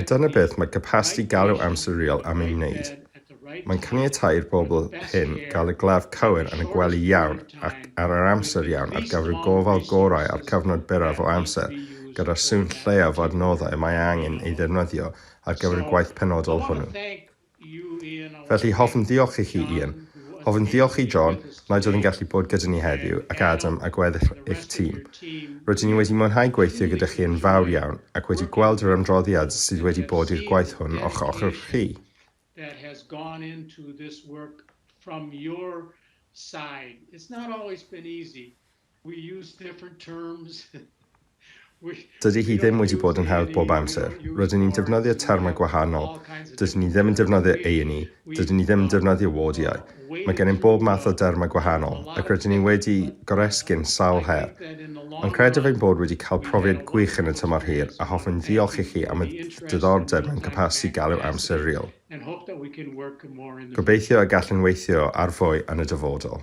A dyna beth mae capasiti galw amsuriol am ei wneud. Mae'n caniatáu i'r bobl hyn gael y glaf cywir yn y gwely iawn ac ar yr amser iawn ar gyfer y gofal gorau a'r cyfnod byrraf o amser, gyda'r sŵn lleiaf o adnoddau y mae angen ei ddefnyddio ar gyfer y gwaith penodol hwnnw. Felly, hoffwn ddiolch i chi, Ian. Hoffwn ddiolch i John, nad oedd yn gallu bod gyda ni heddiw, ac Adam a gweddill eich tîm. Rydyn ni wedi mwynhau gweithio gyda chi yn fawr iawn, ac wedi gweld yr ymdroddiad sydd wedi bod i'r gwaith hwn o'ch ochr chi. that has gone into this work from your side. It's not always been easy, Dydy hi ddim wedi bod yn hawdd bob amser. Rydyn ni'n defnyddio termau gwahanol. Dydyn ni ddim yn defnyddio A&E, dydyn ni ddim yn defnyddio wardiau. Mae gennym bob math o dermau gwahanol, ac rydyn ni wedi goresgyn sawl her. Ond credaf ein bod wedi cael profiad gwych yn y tymor hir, a hoffwn ddiolch i chi am y diddordeb mewn capasiti galw amser real. Gobeithio y gallwn weithio ar fwy yn y dyfodol.